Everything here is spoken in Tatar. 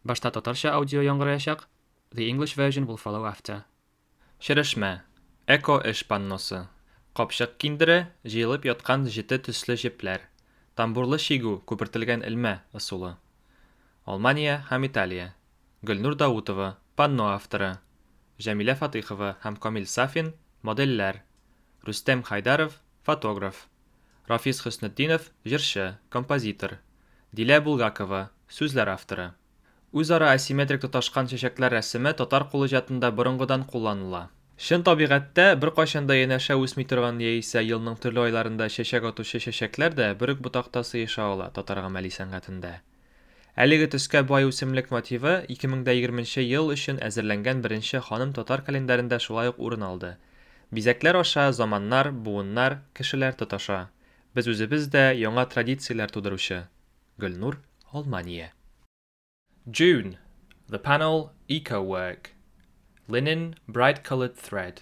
Башта татарча аудио яңгыраячак, the English version will follow after. Черешмә, эко-эш панносы, капчык киндере, җыелып яткан җете төсле җепләр, тамбурлы чигү, күпертелгән элмә ысулы. Алмания һәм Италия. Гөлнур Даутова, панно авторы, Җәмилә Фатыйхова һәм Камил Сафин, модельләр, Рөстәм Хайдаров, фотограф. Рафис Хөснетдинов, җырчы, композитор. Дилә Булгакова, сүзләр авторы. Үзара асимметрик тоташкан чәчәкләр рәсеме татар кул иҗатында борынгыдан кулланыла. Чын табигатьтә беркайчан да янәшә үсми торган яисә елның төрле айларында чәчәк атучы чәчәкләр дә бер үк ботакта сыеша ала татар гамәли сәнгатендә. Әлеге төскә бай үсемлек мотивы 2020 нче ел өчен әзерләнгән беренче ханым татар календарендә шулай ук урын алды. Бизәкләр аша заманнар, буыннар, кешеләр тоташа. Без үзебез дә яңа традицияләр тудыручы. Гөлнур, Алмания. June, The panel Eco-work. Linen, bright-colored thread.